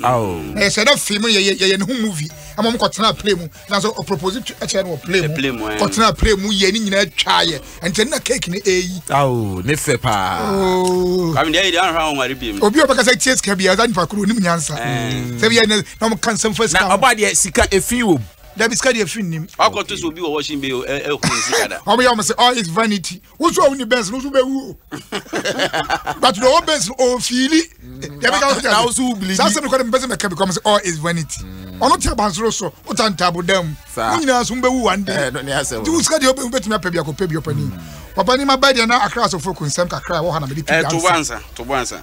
na yɛhyɛ dɛ fii mu yɛyɛ ne ho movie ama ɔmo kɔtena play mu nanso ɔpropose kyerɛ no wɔ play mu kɔtena play mu yɛ ne nyinaa twaa yɛ ɛnkyɛ na cake ne ɛyi ao ne fɛ paa oh. obi ɔbɛka sɛ tie sika bia ɔda nipa koro onim nyansa sɛ bia na ɔmo ka nsɛm fa sika na ɔba deɛ sika ɛfi wɔ mu dabi sika deɛ fi nim. wakɔto so obi wɔ wɔhyɛn bɛ ɛkɔ ne sika da. ɔmo yɛ ɔmo sɛ all is vanity wosu ɔwuni bɛns no wosu bɛ wu o but na ɔwɔ bɛns no ɔfiili yɛbɛ ka ɔsɛ na wosu bilili saa sɛbi kɔdɛ mbɛsɛ mɛka bi kɔm sɛ all is vanity ɔno ti abansoro so o ta ntaabo dan mu mo nyinaa so mbɛ wu one day nti wusika deɛ ɔbɛ wubɛtumi apɛ bi akɔ pɛ bi ɔpɛ ni ɔpɛ ni ma bɛ deɛ na akra asofo ko nsɛm kakra ɛwɔ hɔ na mɛ de ti dansa. ɛɛ tobo ansa tobo ansa.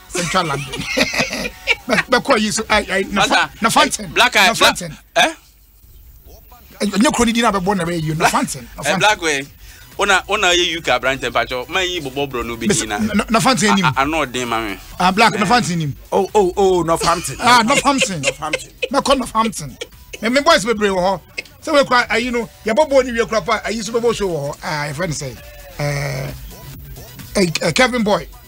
central london bɛkɔ yi so nafanten nafanten ɛnyɛ kuro no din a bɛbɔ na bɛyɛ yi nafanten nafanten wona wona yɛ uk aberantɛ mpakyɛ ma yi bɔbɔ borɔ no bɛdi na nafanten nim ano ɔden ma me ah black nafanten nim oh oh oh northampton ah northampton northampton mɛkɔ northampton me me boys bebree wɔ hɔ sɛ wɔkura ayi no yɛbɔ bɔɔl ne wie kura pa ayi so bɛbɔ show wɔ hɔ ah yɛfrɛ no sɛ ɛɛ eh, eh, eh, kevin boy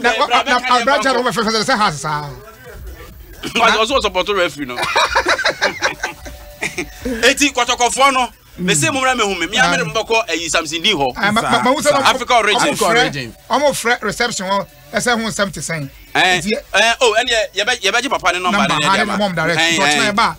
na abragya no fɛfɛsɛ sɛ has saa ɔsɛ ɔsɔpɔtɔ referee no eti kɔtɔkɔfoɔ no mese mm. mumra mehu me mea mede mobɛkɔ ayi samson din hɔ africa origin ɔmo frɛ reception hɔ ɛsɛ ho nsɛm te sɛn ɛneɛ yɛbɛgye papa ne nɔmba ne ne deɛ ma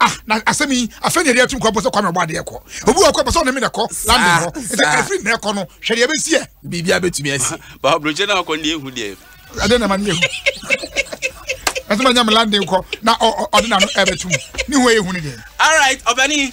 ah na asɛm yi afei na yɛde atum kɔ abɔ sɛ kwame ɔbɔ adeɛ kɔ obi wɔ kɔ pɛ sɛ ɔne me na kɔ london hɔ nti ɛfiri na ɛkɔ no hwɛ deɛ ɛbɛsi ɛ biribi abɛtumi asi babrɔkyɛ no akɔ ne ɛhu deɛ ɛdeɛ na ma ne ɛhu ɛsɛ ma nya me london kɔ na ɔde na no ɛbɛtum ne ho ɛyɛ hu ne deɛ alright ɔbɛne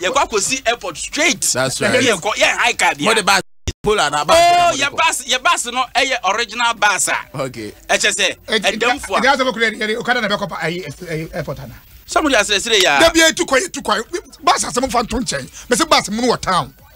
yɛ kɔ akɔsi airport straight ɛne yɛ kɔ yɛ high car bia oh yɛ bus yɛ bus no ɛyɛ eh, original bus a ɛkyɛ sɛ ɛdam fo a ɛdam fo kura yɛ okada na bɛ kɔ ayi airport ana sɛ mo de asrɛsrɛ yɛ a dabi etu kɔ etu kɔ bus asɛm fa nto nkyɛn bɛsɛ bus mu no wɔ town.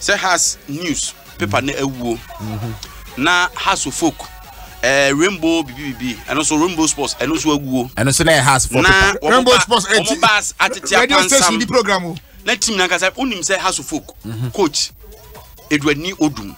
sɛ has news paper mm. na awuo mm-hmm. na has folk eh, rainbow bibi bibi ɛno nso rainbow sports ɛno nso awuo ɛno nso na yɛ has folk na rainbow sports ɛti wɔn ba atete apansam na team nankasa wonim sɛ has folk mm-hmm. coach eduani odum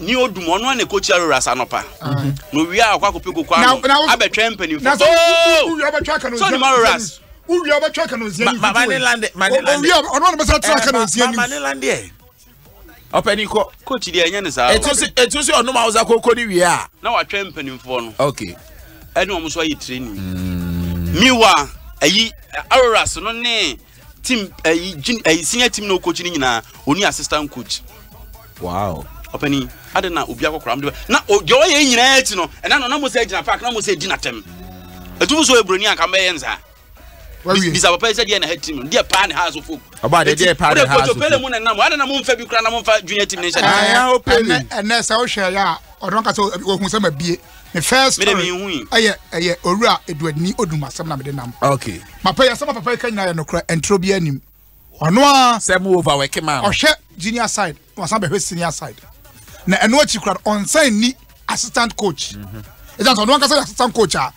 ne odum ɔno a na ɛkɔkyia rorasa anɔpa na owia a ɔkɔ akɔpɛ koko ano abɛtwɛn mpanimfoɔ so ne ma roras wowia wobɛtwa kanonsia ne fitiowia ɔno ne bɛsa tra kanonsia ne mane landeɛ ɔpɛni kɔ coach deɛ ɛnyɛ ne saa ɛtu sɛ ɔnom awosa koko ne wie a na watwɛn mpanimfoɔ no ok ɛne ɔm so ayɛ training miwa ayi aroras no ne team ɛyi eh, jin ɛyi eh, senior team na okokyi ne nyinaa oni assistant coach. wow. ɔpɛni adi na obi akɔkora mu de na deɛ ɔyɛ nyinaa akyi no ɛna no na mo sɛ gyina park na mo sɛ di na tɛm etum so eburoni anka mbɛyɛ nsa bisa papa yi sɛ deɛ na ha team no deɛ paa ne ha so fom. ɔba de deɛ paa ne ha so fom. o de koto pele mu na nam adi na mo nfa bi kura na mo nfa junior team ne nhyɛ. ɛnɛ ɛnɛ sɛ o hwɛ ya ɔdɔn ka sɛ ohun sɛ ma bie. me first story ɛyɛ ɛyɛ owura eduadini odum asɛm na mede nam okay mapa yɛ asɛm papa yi ka nyinaa yɛ nokorɛ ɛntoro bi anim ɔno a sɛ mo over wɛke maa no ɔhwɛ junior side wasan bɛhwɛ senior side na ɛno akyi kora ɔnsan ni assistant coach ɛgya sɛ ɔno ankasa yɛ assistant coach a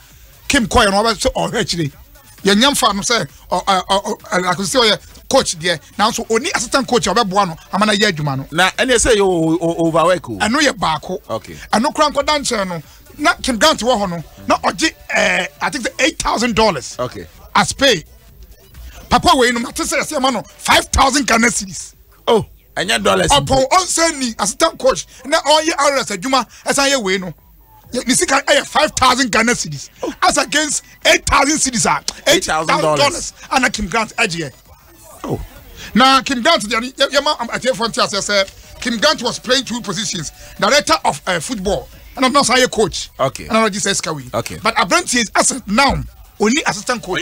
kim kɔɛ no ɔbɛ sɛ ɔhwɛ akyire yɛnyɛ mfa no sɛ akosɛ ɔyɛ coach deɛ nanso ɔni assistant coach a ɔbɛboa no ama no ayɛ adwuma no na ɛneɛ sɛ yɛ overwork o ɛno yɛ baako ɛno kora nkɔda nkyɛn no na kim grant wɔ hɔ no na ɔgye eh, i think sɛ eight thousand dollars as pay papa wei no mate sɛ yɛsɛ ɛma no five thousand ghana cedis oh ɛnyɛ dollars ɔpɔn ɔnsɛ ni assistant coach na ɔyɛ rs adwuma ɛsan yɛ wei no yɛ ne sika ɛyɛ five thousand ghana cedis as against eight thousand cedis a eight thousand dollars ana kim grant ɛgyeɛ oh. na kim grant deɛ yɛma atiefoɔ nte aseɛ sɛ kim grant was playing two positions director of uh, football ɛna ɔno nso ayɛ coach ɛna ɔgye sɛ sika wei but aberanteɛ as now only assistant coach.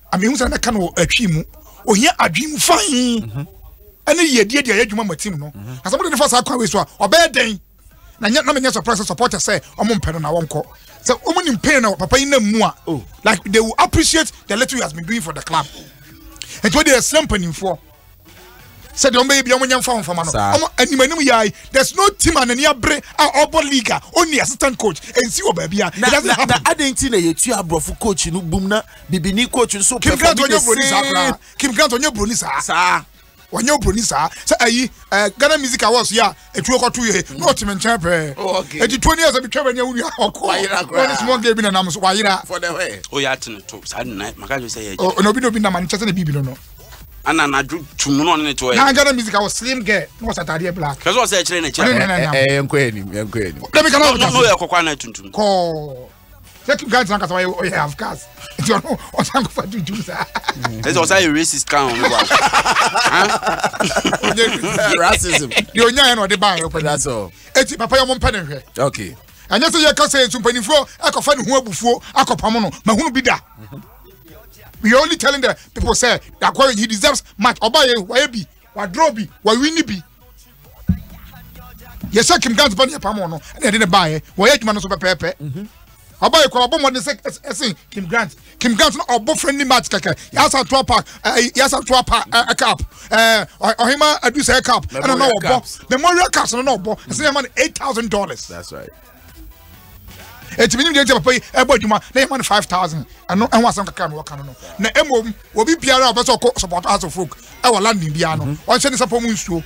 Amehu sɛ mɛka no wɔ atwi mu. Ohia adwene fann mhm. ɛne yiedie deɛ ɛyɛ adwuma ma team no. Mhm. Na sɛ mo de ne fa saa kwan wei so a ɔbɛyɛ dɛn? Na nyɛ na menyɛ surprise supporter sɛ ɔmo mpɛ no na wɔnkɔ. Sɛ ɔmo nim pain na papa yi nam mu a oh. like they will appreciate the little he has been doing for the club. Nti o de ɛsrɛ mpanimfoɔ. sɛ deɛ ɔmbɛyɛ bia ɔmo nyɛ mfa ho mfama no ɔmo anim anim yai there's no team a n'ani abere a ɔbɔ league a ɔnni assistant coach ɛnsi wɔ baabi a it doesn't happen. na adɛn ti na yɛtu aborɔfo coach no bum na bibini coach nso pɛ fɔ bi de see Kim Grant ɔnyɛ broni saa saa wɔnyɛ obroni saa sɛ ayi ɛɛ eh, ghana music awards yi a etuo kɔto yɛ na ɔte me nkyɛn pɛɛ oh, eti tuo ni yɛ sɛ bitwa bɛ ni ewu nua ɔkɔ ɔne small gay bi na nam so wayera. o yɛ ati ne to saa de na maka kyerɛ sɛ yɛ ɛkyɛ. na obi na obi nam ani kyɛ sɛ ne biibi no no. ana anadwo tumu na ɔne ne to yɛ. na agana music awɔ slim girl na ɔsɛ ataadeɛ black. kɛse ɔsɛ ɛkyerɛ ne kyerɛ. ɛɛ nkɔ yɛ nim nkɔ yɛ nim. dɛbi kana ɔbi ta se. n'o yɛ kɔkɔ ana tuntum. kɔɔ. sɛ tu guy tena kasa ɔyɛ ɔyɛ half cast nti ɔno ɔsan kɔfa tuntum saa. ɛsɛ ɔsan yɛ racist kan ɔno wa. racism. deɛ onya yɛ na ɔde ba yɛ ɔpɛ na so. eti papa yɛ ɔmo mpɛ ne hwɛ. okay. ɛnyɛ sɛ yɛ kasa yɛ nso mpanimfoɔ akɔfa ne ho abufuo akɔpam no mahunu bi da. we are only telling the people say that he deserves much ɔba yɛ ɔyɛ bi. Wadrɔ bi, wawi ne bi. Yɛ sɛ Kim Gans ba ne yɛ pam ɔno ɛna yɛde ne baeɛ. Wɔyɛ adwuma no nso pɛpɛɛpɛ. Mhm. Ɔba yɛ kɔ ɔbɔ mmɔden sɛ ɛsen Kim Grant. Kim Grant no ɔbɔ friendly match kɛkɛ. Yasa ntoa park ɛɛ yasa ntoa park ɛɛ cup ɛɛ ɔhema adusɛ cup ɛna na ɔbɔ memorial cup no na ɔbɔ ɛsɛ yɛ ma no eight thousand dollars. That's right. eti menim deɛ nti papa yi ɛbɔ adwuma na yɛma no five thousand ɛno ɛho asɛm kakra mi wɔka no no na mmom obi biara a ɔbɛ sɛ ɔkɔ support house of folk ɛwɔ london biara no mhm. ɔnhyɛ ne sapɔ mu nsuo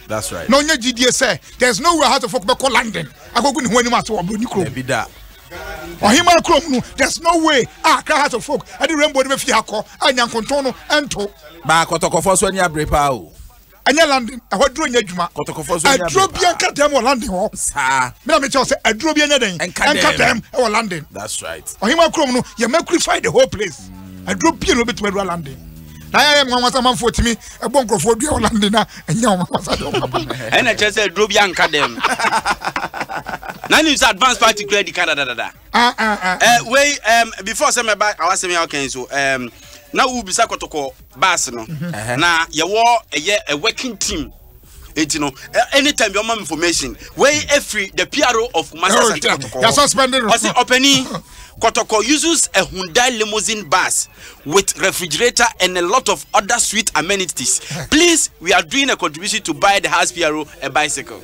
na ɔnyɛ gyidie sɛ there is no way house of folk bɛkɔ london akɔgu ne ho anim ase wɔ buroni kurom ɔhema kurom no there is no way a akra house of folk ɛde rainbow no bɛfie akɔ a nyankontɔn no ɛnto baakɔtɔkɔfoɔ so ani abere paa o ɛnyɛ london ɛhɔ aduro nyɛ adwuma aduro bia nka dɛm wɔ london hɔ saa mena mekyɛ sɛ aduro bia nyɛ dɛn nka dɛm ɛwɔ london that's right ɔhema kurom no yɛ mercury fire the whole place mm. aduro bia no bɛtumi adura london na yɛ mu anwasa manfoɔ tumi ɛbɔ nkurɔfoɔ dua wɔ london a ɛnyɛ wɔn anwasa deɛ wɔn aba ɛna kyerɛ sɛ aduro bia nka dɛm na nim sɛ advance party kura di ka dadadada ah, ah, ah. eh, wei before sɛ mɛba awasɛm yɛ ɔkɛn so na wobisa kɔtɔkɔ bus no mm-hmm. na yɛwɔ ɛyɛ a working team eti no anytime bi ɔma information wei efiri the pro of matters and kɔtɔkɔ ɔsi ɔpɛni kɔtɔkɔ uses a hyundai limousine bus with refrigerator and a lot of other sweet amenities please we are doing a contribution to buy the house pro a bicycle.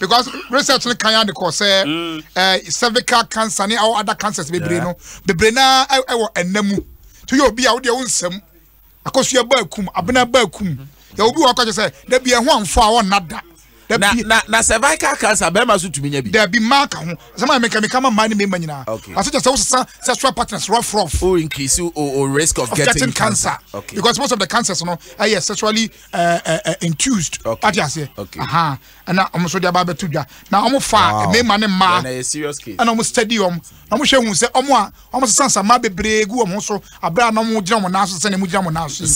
because research no kan ade kɔ sɛ mm. eh, cervical cancer ne awo other cancers bebree no bebree na ɛwɔ eh, eh, ɛnna mu to yɛ obi a wodeɛ wo nsɛm akosua baa kum abena baa kum mm-hmm. yɛ obi wɔ akɔkyɛ sɛ dabi ɛho amfo a wɔnna da na na na cervical cancer bɛrima so tumi nya bi. dabi maa ka ho sɛma yɛ meka meka ma maa ni mɛma nyinaa. okay aso kyɛ sɛ wosesa sexual partners rough rough. o increase o o risk of, of getting, getting cancer. cancer. okay because most of the cancers no ɛyɛ sexually uh, uh, uh, induced. okay ati aseɛ. okay aha ɛna wɔn nso de aba abɛto dwa na wɔn fa mmarima ne mmaa ɛna wɔn study wɔn na wɔn hwɛ hu sɛ wɔn a wɔn sesa nsama bebree gu wɔn so abere a na wɔn gyina wɔn nan so sɛ na wɔn gyina wɔn nan so yi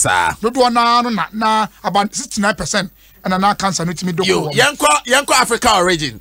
dodoɔ naa no na na about sixty nine percent ɛna na cancer no tumi dɔkɔ wɔn. yɛnkɔ yɛnkɔ Africa origin.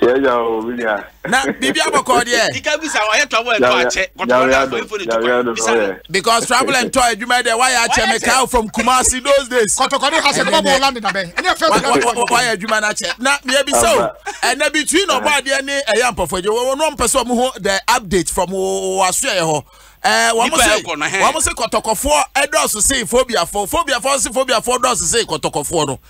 yɛyɛ o bi deɛ. na biribi abɔkɔ deɛ. dika bisa ɔyɛ travel ɛtɔ akyɛ kɔtɔrɔ na afɔ efo ne tukɔ bisa no. because travel ɛntɔ adwuma deɛ wayɛ akyɛ mi kaa from Kumasi those days. kɔtɔkɔ ne ha sɛ ɛbɛbɔ bɔ ɔlande na bɛn ɛne ɛfɛ bi na bɛn. wayɛ adwuma na kyɛ na miɛ bi sɛ o ɛnɛ bi tui na ɔbɔ adeɛ ne ɛyɛ mpɔfo ɛdi wɔn wɔn mpɛ sɛ wɔn ho the update from wɔn aso yɛ hɔ. Eh, wɔn se wɔn se kɔtɔkɔfoɔ ɛdɔɔso se fobiafoɔ fobiafoɔ se fobiafoɔ dɔɔso se kɔtɔkɔfoɔ no.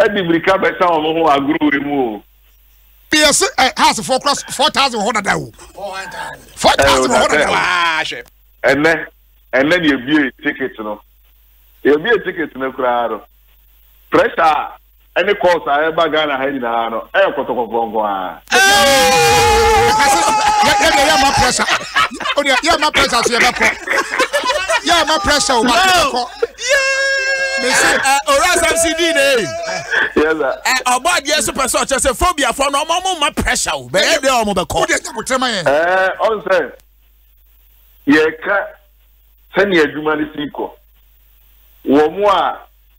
Ɛde mmirika bɛsa wɔn ho agorowee mu o. Bia se ɛ house foɔ kora four thousand wɔ hɔ dada o. Four thousand wɔ hɔ dada waa hwɛ. Ɛnɛ ɛnɛ ni ebie ticket no ebie ticket no koraa no pressure ɛne calls a ɛba Ghana ha nyinaa no ɛyɛ kɔtɔkɔfɔ nko ara. yɛdeɛ yɛma pressure wodeɛ yɛma pressure so yɛbɛkɔ yɛma pressure o bakɔ owura asɛm si di ne ɔbɔ adeɛ so pɛ sɛ ɔkyɛ sɛ phobiafoɔ no ɔma ɔmo ma pressure o bɛyɛ deɛ ɔmo bɛkɔ wodeɛ nyabotrɛma yɛ ɔn sɛ yɛka sɛnea adwuma no si kɔ wɔn a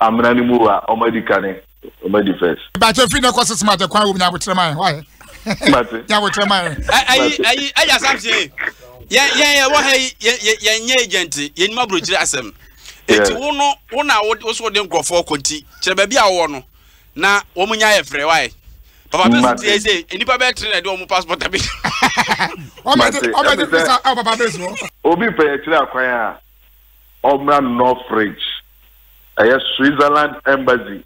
Amena no mu wa ɔmo adi kane ɔmo adi first. Mepakyɛ ɛfiri nɛ kɔse smart kwan wom nyabotrɛ ma yɛn wayɛ nyabotrɛ ma yɛn. Ayi ayi ayi assumption yi yɛn yɛn yɛ wɔ ha yi yɛn yɛn nyɛ agent yɛn nim aburokyire asɛm eti wo no wo na wo wo so de nkorɔfoɔ kɔ nti kyerɛ baabi a wɔwɔ no na wɔn nya yɛ frɛ wayɛ papa bɛsi ti yɛ sɛ nipa bɛɛ tere na ɛde wɔn passport abi. ɔmɛ ti ɔmɛ ti pesa ɛwɔ papa bɛsi wɔ. obi pɛ yɛ kyerɛ akwan a ɔmmra Northridge, ɛyɛ Switzerland Embassy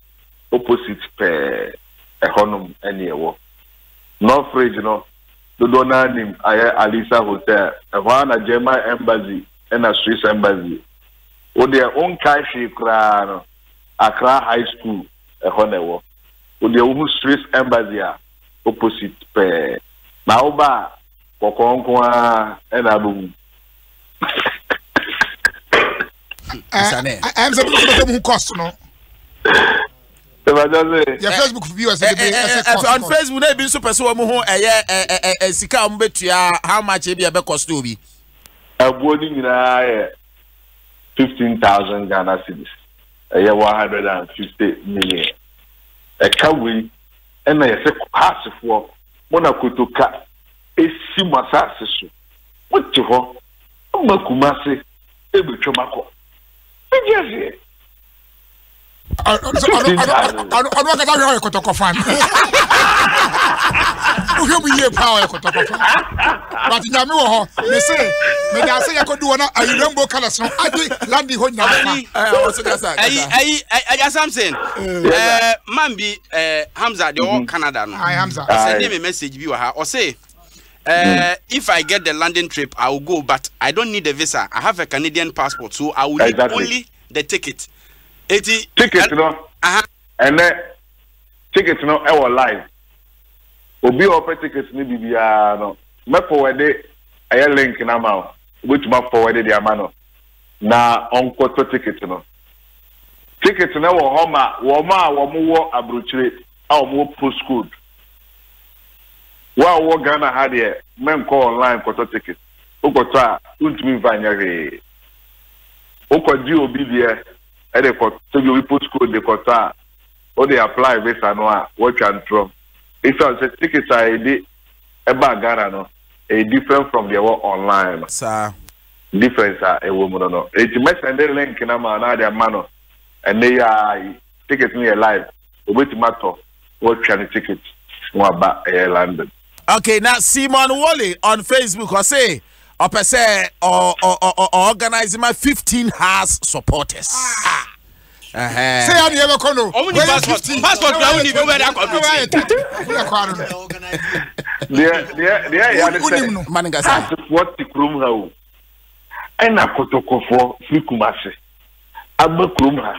opposite pɛɛ, ɛhɔnom ne ɛwɔ. Northridge no, dodoɔ no ara nim ayɛ Alisa Hotel, ɛhɔ ara na German Embassy ɛna Swiss Embassy. Wo deɛ wo nkae hwee koraa no, Accra High School, ɛhɔ na ɛwɔ. Wo deɛ wo hu Swiss Embassy a, opposite pɛɛ. Na wo ba a, kɔkɔɔ nko ara na abɛhu. ɛm sɛ bɛsɛ bɛsɛ mu cost no yɛ facebook bi wɔ sɛ de ɛsɛ cost on facebook na ebi nso pɛ sɛ wɔn ho ɛyɛ ɛ sika a wɔn bɛtua how much ebi ɛbɛ cost obi. ɛboɔ ne nyinaa yɛ fifteen thousand ghana cedis ɛyɛ one hundred and fifty million ɛka wei ɛna yɛsɛ haasefoɔ mo na kotoka esi mo asaase so. Mete hɔ ma Kumasi ebetwam akɔ New Jersey. Ɔno akasa hwɛ ɔyɛ kɔtɔkɔ fan. Wohwɛ mu yie paa ɔyɛ kɔtɔkɔ fan. But nyame wɔ hɔ. Me se mede ase yɛ kɔdu wɔn ayi rainbow colours no agye landi hɔ nyinaa fa. Ayi ayi ayi Samson. Ɛɛ man bi ɛɛ Hamza deɛ ɔwɔ Canada no. Ayi Hamza. Ɔsɛ deɛ me message bi wɔ ha ɔse. Uh, if I get the London trip, I will go, but I don't need a visa. I have a Canadian passport, so I will need only the ticket. Eti, ticket no, uh-huh. and then ticket no, I will live. Obi offer tickets ni bibiara no. Me forward it, I link na ma. Which ma forward it ama no. Na onko to ticket no. Ticket no wɔ hɔ ma wɔn a wɔn wɔ aburukyire a wɔn wɔ postcode. Wo a wowɔ Ghana ha deɛ mɛnkɔ online nkɔtɔ ticket. Wokɔtɔ a wontumi mfa nyɛ hwee. Wokɔgye obi deɛ de kɔ sɛbi obi post code de kɔtɔ a wode apply visa no a woatwa ntorɔ. Esiane sɛ ticket a yɛde ba Ghana no ɛyɛ different from deɛ ɛwɔ online no. Saa. Difference a ɛwɔ mu no no. Enti mɛsɛnde link no ama no na wode ama no ɛnnɛ yi ara yi. Ticket no yɛ live obetumi atɔ na watwa ne ticket na waba ɛyɛ London. Okay, na Simon Wole on Facebook ɔse ɔpɛ sɛ ɔorganize ma 15 hours supporters. Ah. sɛ yɛ deɛ bɛkɔ no deɛyɛasefoɔ te kurom ha o ɛna kotokofoɔ firi kuma ase aba kurom ha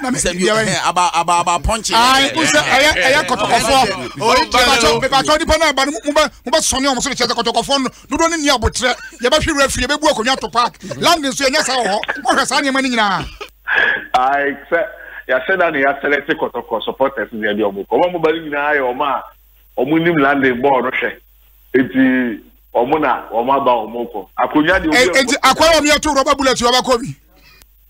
na mi sɛ biara yi. aba aba aba pɔnkye. ayi n sɛ ɛyɛ ɛyɛ kɔtɔkɔfɔ bɛbàtɔ bɛbàtɔ nipa náà ba ni mo bɛ mo bɛ sɔn ní ɔmo so de kyerɛ sɛ kɔtɔkɔfɔ no dodo ne ni abotire yɛ bɛ hwi wura firi yɛ bɛ bu akonnwa to park landi nso yɛ nyɛ saa wɔ hɔ mo hwɛ saa nneɛma ni nyinaa. ayi sɛ yasɛ da na yasɛlɛ te kɔtɔkɔ supporters ni ɛdi ɔmo kɔ ɔmo ɔmo ba ni nyinaa yɛ ɔmo a ɔmo nim landi bɔɔl no hwɛ eti ɔmo na ɔmo aba ɔmo kɔ akonnwa de. eti akɔyɛ ɔmo yɛ to rɔba bullet yɛ ɔba kɔ bi.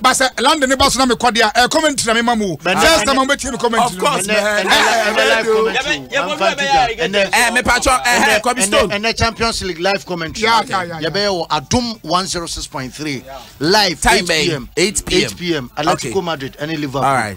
ba sɛ london ne ba so na mekɔ deɛ a commentary na mema mu o first time a mobɛtie me commentary mepatwɔ kɔbi stone ɛnɛ champions league live commentary yɛbɛyɛ wɔ adom 106.3 live 8 pm 8 pm atletico madrid ɛne liverpool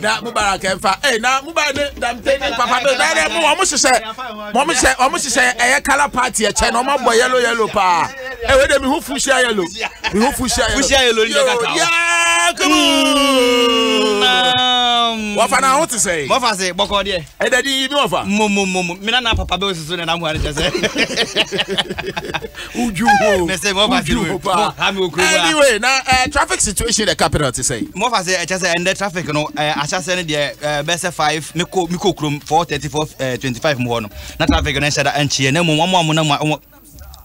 na mubarak ɛnfa ee na mubarak ne damte ne papa bɛ na yɛrɛ mu wɔn hyehyɛ wɔn hyehyɛ wɔn hyehyɛ ɛyɛ kala paati ɛkyɛ na wɔn abɔ yɛlo yɛlo paa ɛwɛ de mi ho fuhyia yɛlo mi ho fuhyia yɛlo fuhyia yɛlo ni ɛka taa yaa kumu wɔfa na ho ti sɛ. wɔfa se bɔkɔ deɛ. ɛdɛ di yi mi wɔfa. mo mo mo mo mina na papa bɛ o soso na na mu ani kyɛ sɛ. Uju ho. Mese mo fa Uju ho pa. Anyway, na uh, traffic situation the capital to say. Mo fa say echa say and the traffic no uh, acha say the uh, best 5 me ko me ko krom 434 25 mo no. Na traffic no shada anchie na mo mo mo na mo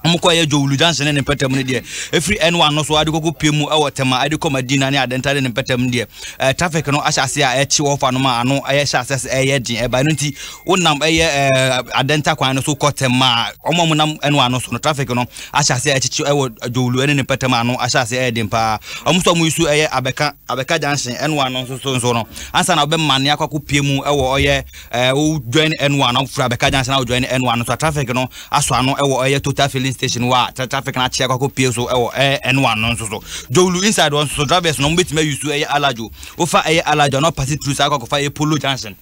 wɔkɔ yɛ jowulu junction ne ne mpɛtɛm no deɛ ɛfiri ɛnoa no so ade kɔkɔ pie mu ɛwɔ tɛma ade kɔ madina ne adɛnta ne ne mpɛtɛm no deɛ ɛɛ traffic no ahyɛ ase a ɛkye hɔ fa no ma ano ɛyɛ hyɛ ase ɛyɛ den ɛba no nti Wonam ɛyɛ adɛnta kwan no so kɔ tɛm a, wɔn a wɔnam ɛno ano so no, traffic no ahyɛ aseɛ ɛkyekye ɛwɔ Jowlu ɛne ne mpɛtɛm a ano ahyɛ aseɛ ɛyɛ den paa. Wɔn nso a wɔyi so ɛyɛ Abɛka, Abɛka junction ɛno ano nso so nso no, ansa na wɔbɛmane akɔ akɔpie mu ɛwɔ ɔyɛ ɛɛ wo join ɛno ano, firi Abɛka junction a wo join ɛno ano nso a traffic no asɔ ano ɛwɔ ɔyɛ Total filling station wɔ a traffic no akye akɔ akɔpie so ɛwɔ ɛɛ ɛno ano nso so. Jowlu inside hɔ nso so, drivers no wɔbɛtumi ayi so ɛyɛ Alajo, wofa ɛyɛ Alajo a na wɔpase through saa akɔ akɔfa ɛyɛ Polo junction.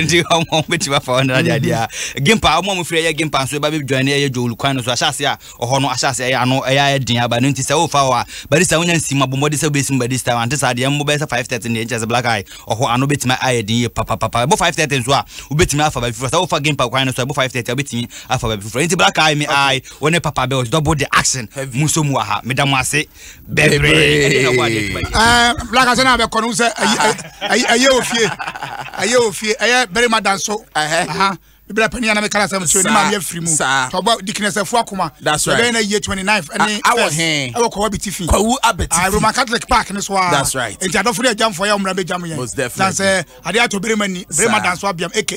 nti ɔmo bɛtumi afa hɔ nana deadeɛ a gimpa ɔmo a mofiri ɛyɛ gimpa nso ɛba bɛdwane ɛyɛ dwowlu kwan no so ahyɛase a ɔhɔ no ahyɛase ɛyɛ ano ɛyɛ ayɛ den aba no nti sɛ wofa hɔ a barista wonya nsi mu abɔmmɔde sɛ wobɛsi mu barista ante saa deɛ mmobɛyɛ sɛ 530 deɛ nkyɛ sɛ black eye ɔhɔ ano bɛtumi ayɛ den yie papapapa ɛbɔ 530 nso a wobɛtumi afa baabi foforɔ sɛ wofa gimpa kwan no so ɛbɔ 530 a wobɛtumi afa baabi foforɔ nti black eye me eye wo ne papa bɛwɔ dɔbo de action mu nso mu aha meda mo ase bebree ah, black asɛ na bɛkɔ no sɛ ɛyɛ ofie ɛyɛ ofie ɛyɛ barima da nso bibira panyin anam kala sɛm so ɛnima yɛ firi mu tɔbɔ dikinesɛfo akoma ɛbɛyɛ na yie twenty nine ɛne fɛs ɛwɔ kɔwa bi ti fi kɔwu abɛti fi ah, roman catholic park ne so a ah. nti adɔfo de ɛgyamfo yɛ ɔmuna bɛ gyamu yɛn dansɛ adeɛ ato berema ni berema danso abiam aka